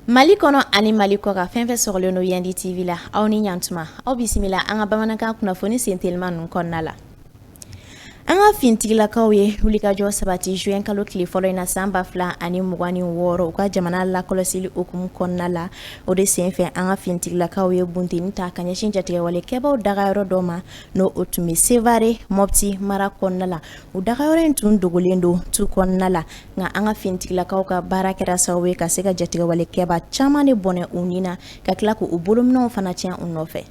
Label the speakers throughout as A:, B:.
A: Mali kɔnɔ ani mali kɔkan fɛn fɛn sɔrɔlen don yandi tv la aw ni ɲantuma aw bisimila an ka bamanankan kunnafoni sentelima ninnu kɔnɔna la an ka fintigilakaw ye wulikajɔ sabati juin kalo tile fɔlɔ in na san ba fila ani mugan ni wɔɔrɔ u ka jamana lakɔlɔsili hukumu kɔnɔna la O de senfɛ an ka fintigilakaw ye bunteni ta ka ɲɛsin jatigɛwalekɛbaw dagayɔrɔ dɔ ma n' o tun bɛ sevare mɔpti mara kɔnɔna la u dagayɔrɔ in tun dogolen don tu kɔnɔna la nka an ka fintigilakaw ka baara kɛra sababu ye ka se ka jatigɛwalekɛba caman de bɔnɛ u ni na ka tila k' u bolominɛnw fana tiɲɛ u nɔfɛ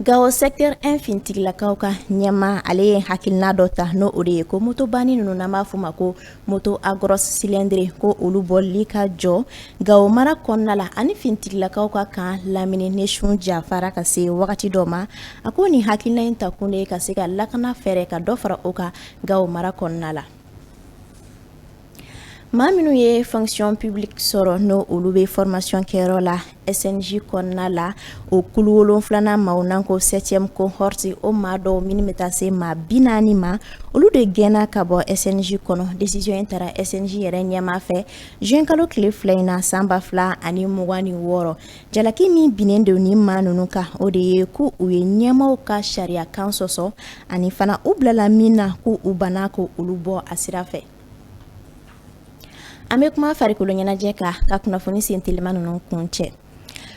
A: Gao secteur un fintigilakaw ka ɲɛmaa ale ye hakilina dɔ ta n'o o de ye ko motoba ninnu n'an b'a fɔ ma ko moto à grosse cylindrée ko olu boli ka jɔ gao mara kɔnɔna la ani fintigilakaw ka kan lamini ni sun jafara ka se wagati dɔ ma a ko nin hakilina in ta kun de ye ka se ka lakana fɛɛrɛ ka dɔ fara o kan gao mara kɔnɔna la Maa minnu ye fonction publique sɔrɔ n'o olu bɛ formation kɛyɔrɔ la SNJ kɔnɔna la o kulu wolonfilanan maaw n'an ko septième cohorte o maa dɔw minnu bɛ taa se maa bi naani ma olu de gɛnna ka bɔ SNJ kɔnɔ décision in taara SNJ yɛrɛ ɲɛmaa fɛ juin kalo tile fila in na san ba fila ani mugan ni wɔɔrɔ jalaki min binnen don nin maa ninnu kan o de ye ko u ye ɲɛmaaw ka sariyakan sɔsɔ ani fana u bilala min na ko u banna ko olu bɔ a sira fɛ. An bɛ kuma farikolo ɲɛnajɛ kan ka kunnafoni sen teliman ninnu kun cɛ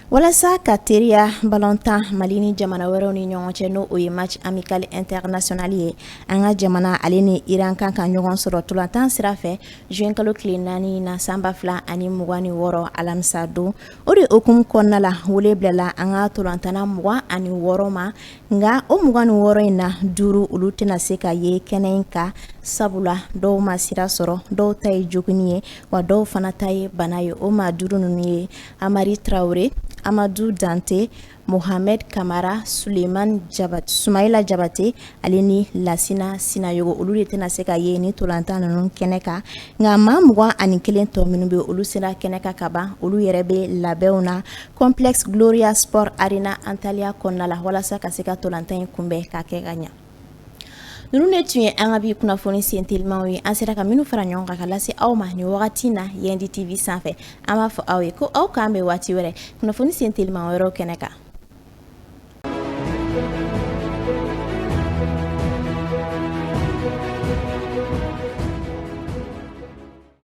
A: walasa ka teriya balɔn tan mali ni jamana wɛrɛw ni ɲɔgɔn cɛ n'o o ye match amical international ye an ka jamana ale ni iran kan ka ɲɔgɔn sɔrɔ tolantan sira fɛ juin kalo tile naani na san ba fila ani mugan ni wɔɔrɔ alamisa don o de hukumu kɔnɔna la wele bilala an ka tolantanna mugan ani wɔɔrɔ ma nka o mugan ni wɔɔrɔ in na duuru olu tɛna se ka ye kɛnɛ in kan sabula dɔw ma sira sɔrɔ dɔw ta ye jogin ye wa dɔw fana ta ye bana ye o maa duuru ninnu ye amari traoré amadu dante mohamɛd kamara suleman sumayila jabate ale ni lasina sinayogo olu de tɛna se ka ye nin tolantan ninnu kɛnɛ kan nka maa mugan ani kelen tɔ minnu bɛ olu sera kɛnɛ kan kaban olu yɛrɛ bɛ labɛnw na Complexe Gloria Sport Arena Antalya kɔnɔna la walasa ka se ka ntolantan in kunbɛn k'a kɛ ka ɲɛ. Ninnu de tun ye an ka bi kunnafoni sen telimanw ye. An sera ka minnu fara ɲɔgɔn kan ka lase aw ma nin wagati in na Yandi TV sanfɛ. An b'a fɔ aw ye ko aw k'an bɛn waati wɛrɛ kunnafoni sen teliman wɛrɛw kɛnɛ kan.